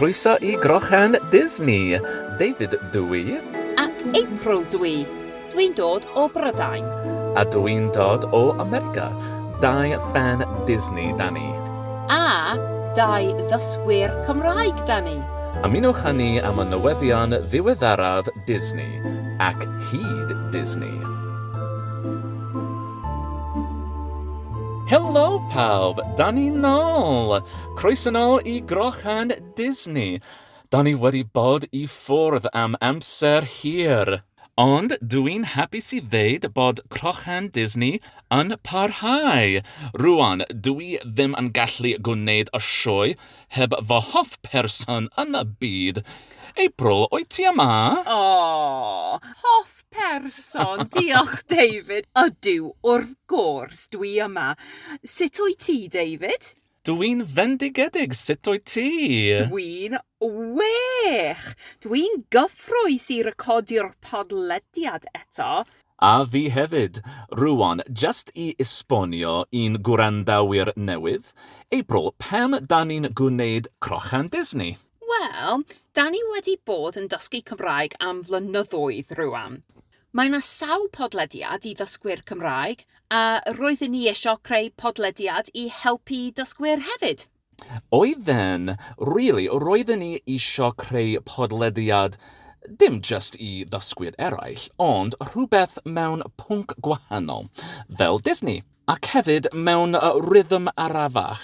Croeso i Grochen Disney, David dw i. Ac April dw i. Dw i'n dod o Brydain. A dw i'n dod o America. Dau ffan Disney da ni. A dau ddysgwyr Cymraeg da ni. Ymunwch â ni am y newyddion ddiweddaraf Disney, ac hyd Disney. Helo pawb! Da ni nôl! Croeso nôl i Grochân Disney! Da ni wedi bod i ffwrdd am amser hir, ond dw i'n hapus i ddeud bod Crochân Disney yn parhau! Rŵan, dw i ddim yn gallu gwneud y sioe heb fy hoff person yn y byd! April, wyt ti yma? O! Hoff person. Diolch, David. Ydw, wrth gwrs, dwi yma. Sut wyt ti, David? Dwi'n fendigedig, sut wyt ti? Dwi'n wych! Dwi'n gyffrous i recordio'r podlediad eto. A fi hefyd. Rŵan, just i esbonio i'n gwrandawyr newydd, April, pam 'dan ni'n gwneud Crochan Disney? Wel, da ni wedi bod yn dysgu Cymraeg am flynyddoedd rŵan. Mae 'na sawl podlediad i ddysgwyr Cymraeg, a roeddwn ni eisiau creu podlediad i helpu dysgwyr hefyd. Oedd e'n rili, roeddwn ni eisiau creu podlediad dim jyst i ddysgwyr eraill, ond rhywbeth mewn pwnc gwahanol, fel Disney. Ac hefyd mewn rhythm arafach.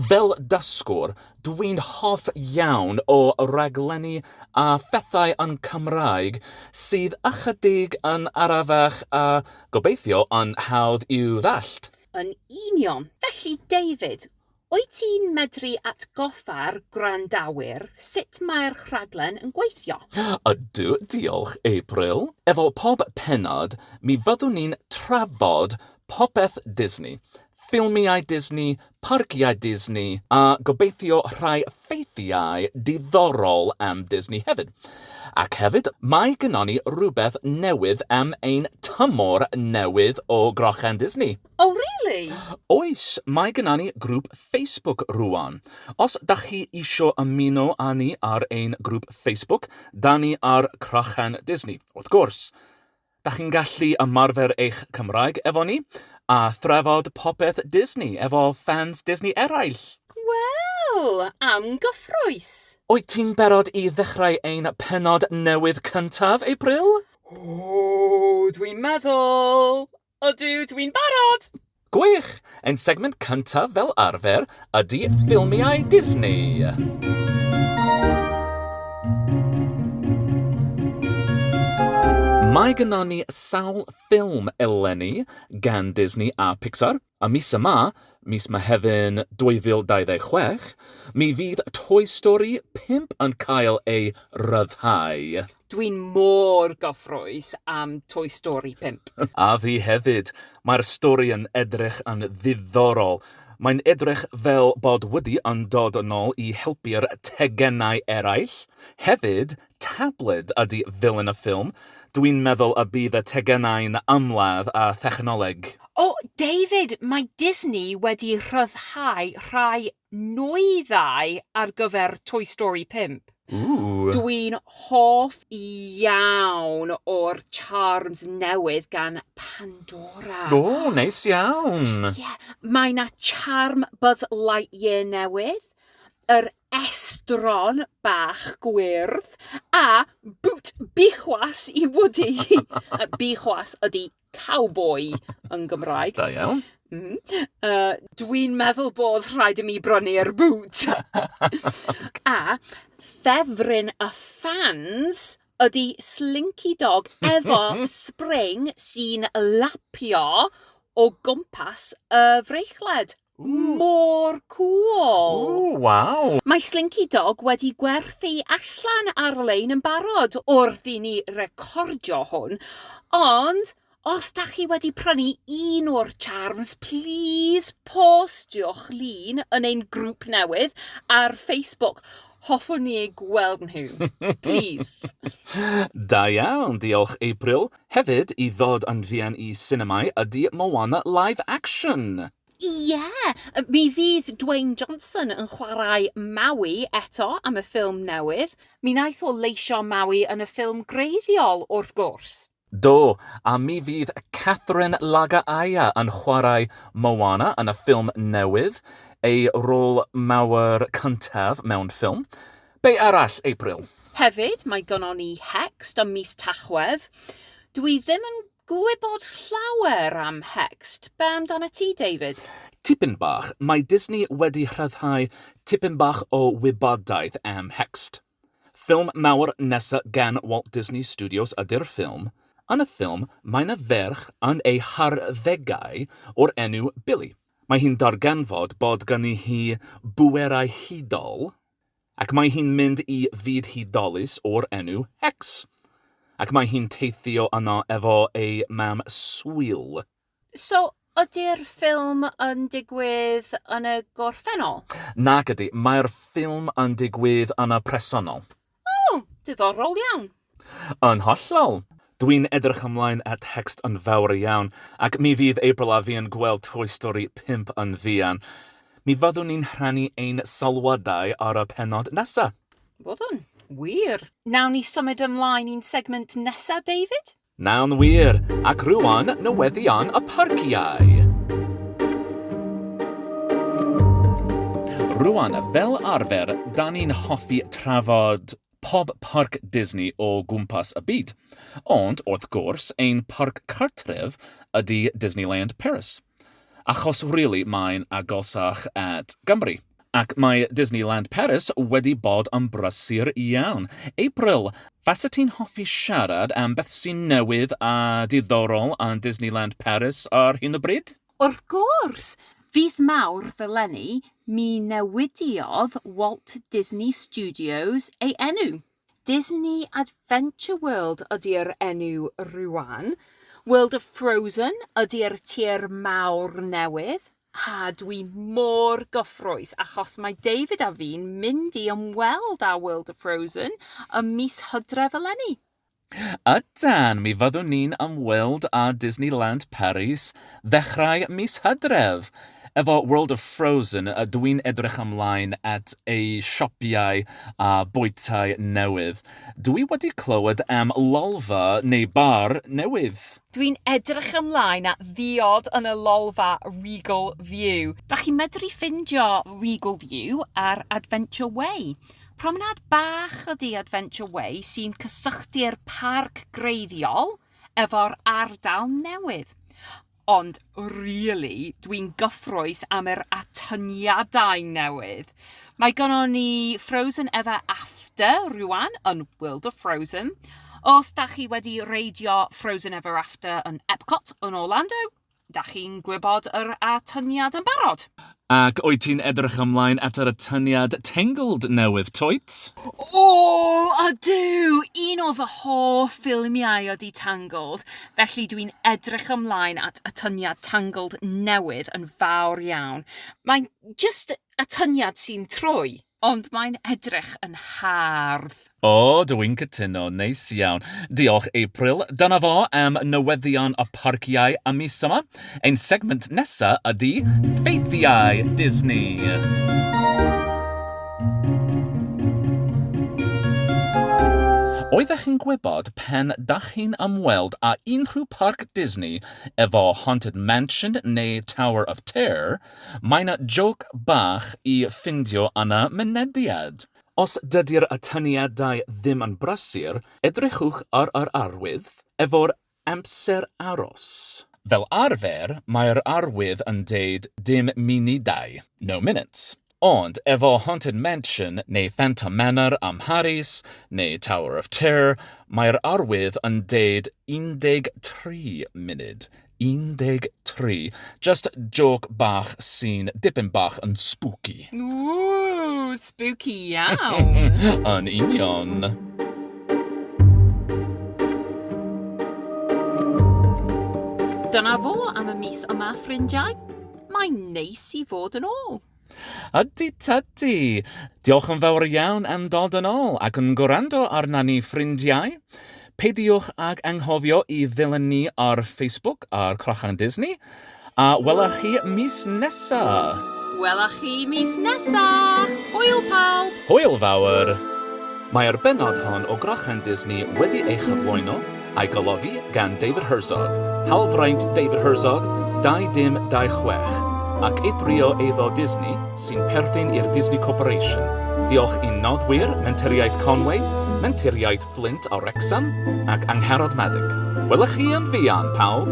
Fel dysgwr, dw i'n hoff iawn o raglenni a phethau yn Cymraeg sydd ychydig yn arafach a, gobeithio, yn hawdd i'w ddallt. Yn union! Felly, David, Wyt ti'n medru atgoffa'r gwrandawyr sut mae'r rhaglen yn gweithio? Ydw, diolch, April. Efo pob pennod, mi fyddwn ni'n trafod popeth Disney, ffilmiau Disney, parciau Disney, a gobeithio rhai ffeithiau diddorol am Disney hefyd. Ac hefyd, mae gynnon ni rywbeth newydd am ein tymor newydd o Grochen Disney. Oh really? Oes, mae gynna ni grŵp Facebook rŵan. Os dach chi isio ymuno â ni ar ein grŵp Facebook, da ni ar Crachen Disney, wrth gwrs. Dach chi'n gallu ymarfer eich Cymraeg efo ni, a thrafod popeth Disney efo ffans Disney eraill. Wel, am gyffrous! Wyt ti'n barod i ddechrau ein pennod newydd cyntaf April? O, dwi'n meddwl! Ydw, dwi'n barod! Gwych! Ein segment cyntaf fel arfer ydy ffilmiau Disney. Mae gyda ni sawl ffilm eleni gan Disney a Pixar. A mis yma, mis Mehefin 2026, mi fydd Toy Story 5 yn cael ei ryddhau. Dwi'n mor gyffrous am Toy Story 5. A fi hefyd! Mae'r stori yn edrych yn ddiddorol. Mae'n edrych fel bod Woody yn dod yn ôl i helpu'r tegenau eraill. Hefyd, tabled ydy villain y ffilm. Dwi'n meddwl y bydd y tegenau'n ymladd â thechnoleg. O, David, mae Disney wedi rhyddhau rhai nwyddau ar gyfer Toy Story 5. Ooh. Dwi'n hoff iawn o'r charms newydd gan Pandora. O, neis iawn. Yeah. Mae na charm Buzz Lightyear newydd, yr estron bach gwyrdd, a boot bichwas i Woody. Bichwas ydi cowboi yn Gymraeg. Da iawn. Mm. Uh, Dwi'n meddwl bod rhaid i mi brynu'r boot. A ffefryn y fans ydy Slinky Dog efo spring sy'n lapio o gwmpas y freichled. Mor cŵl! Ww, waw! Mae Slinky Dog wedi gwerthu allan ar-lein yn barod wrth i ni recordio hwn, ond os da chi wedi prynu un o'r charms, please postiwch lun yn ein grŵp newydd ar Facebook. Hoffwn ni ei gweld nhw. Please. da iawn, diolch April. Hefyd, i ddod yn fuan i sinemâu ydy Moana Live Action! Ie! Mi fydd Dwayne Johnson yn chwarae Maui eto am y ffilm newydd. Mi wnaeth o leisio Maui yn y ffilm greiddiol, wrth gwrs. Do, a mi fydd Catherine Laga'aia yn chwarae Moana yn y ffilm newydd, ei rôl mawr cyntaf mewn ffilm. Be arall, April? Hefyd, mae gynnon ni Hext ym mis Tachwedd. Dw i ddim yn gwybod llawer am Hext. Be amdanat ti, David? Tipyn bach. Mae Disney wedi rhyddhau tipyn bach o wybodaeth am Hext. Ffilm mawr nesa' gan Walt Disney Studios ydy'r ffilm. Yn y ffilm, mae 'na ferch yn ei harddegau o'r enw Billy. Mae hi'n darganfod bod gynni hi bwerau hudol, Ac mae hi'n mynd i fyd hudolus o'r enw Hex. Ac mae hi'n teithio yno efo ei mam swil. So, ydy'r ffilm yn digwydd yn y gorffennol? Nag ydy, mae'r ffilm yn digwydd yn y presennol. O, diddorol iawn. Yn hollol! Dwi'n edrych ymlaen at Hext yn fawr iawn, ac mi fydd April a fi yn gweld Toy Story 5 yn fuan. Mi fyddwn ni'n rhannu ein sylwadau ar y pennod nesa. Byddwn. Wir. Nawn ni symud ymlaen i'n segment nesa, David? Nawn wir! Ac rŵan, newyddion y parciau! Rŵan, fel arfer, 'dan ni'n hoffi trafod pob parc Disney o gwmpas y byd, ond wrth gwrs ein parc cartref ydi Disneyland Paris, achos rili mae'n agosach at Gymru. Ac mae Disneyland Paris wedi bod yn brysur iawn. April, faset ti'n hoffi siarad am beth sy'n newydd a diddorol yn Disneyland Paris ar hyn o bryd? Wrth gwrs! Fis Mawrth eleni, mi newidiodd Walt Disney Studios ei enw. Disney Adventure World ydi'r enw rŵan. World of Frozen ydi'r tir mawr newydd. A dwi mor gyffrous achos mae David a fi'n mynd i ymweld â World of Frozen ym mis Hydref eleni. A dan, mi fyddwn ni'n ymweld â Disneyland Paris ddechrau mis Hydref! Efo World of Frozen, dw i'n edrych ymlaen at eu siopïau a bwytai newydd. Dw i wedi clywed am lolfa, neu bar, newydd. Dw i'n edrych ymlaen at ddiod yn y lolfa Regal View. Dach chi'n medru ffindio Regal View ar Adventure Way. Promenâd bach ydy Adventure Way sy'n cysylltu'r parc greiddiol efo'r ardal newydd. Ond rili, dwi'n gyffrous am yr atyniadau newydd. Mae gynnon ni Frozen Ever After rŵan yn World of Frozen. Os 'dach chi wedi reidio Frozen Ever After yn Epcot yn Orlando, Dach chi'n gwybod yr atyniad yn barod? Ac wyt ti'n edrych ymlaen at yr atyniad Tangled newydd, Toit? O, ydw! Un o fy hoff ffilmiau ydy Tangled, felly dw i'n edrych ymlaen at atyniad Tangled newydd yn fawr iawn. Mae'n jyst atyniad sy'n trwy. Ond mae'n edrych yn hardd. O, dw i'n cytuno. Neis iawn. Diolch, April. Dyna fo am newyddion y parciau am mis yma. Ein segment nesa ydi ffeithiau Disney. Oeddech chi'n gwybod pan dach chi'n ymweld â unrhyw parc Disney efo Haunted Mansion neu Tower of Terror, Mae 'na jôc bach i ffindio yn y mynediad. Os dydi'r atyniadau ddim yn brysur, edrychwch ar yr arwydd efo'r amser aros. Fel arfer, mae'r arwydd yn deud dim munudau, no minutes. Ond efo Haunted Mansion neu Phantom Manor ym Mharis, neu Tower of Terror, mae'r arwydd yn deud 13 munud. 13. Just joc bach sy'n dipyn bach yn spooky. Ww, spooky iawn! Yn union. Dyna fo am y mis yma, ffrindiau. Mae'n neis i fod yn ôl. Ydi tydi! Diolch yn fawr iawn am dod yn ôl ac yn gwrando arna ni ffrindiau. Peidiwch ag anghofio i ddilyn ni ar Facebook ar Crochan Disney. A wela chi mis nesa! Wela chi mis nesa! Hwyl pawb! Hwyl fawr! Mae'r bennod hon o Grochan Disney wedi ei chyflwyno A'i golygu gan David Herzog, hawlfraint David Herzog, 2026, ac eithrio eiddo Disney sy'n perthyn i'r Disney Corporation. Diolch i'n noddwyr, Menturiaeth Conway, Menturiaeth Fflint a Wrecsam ac Angharad Maddock. Wela chi yn fuan, pawb!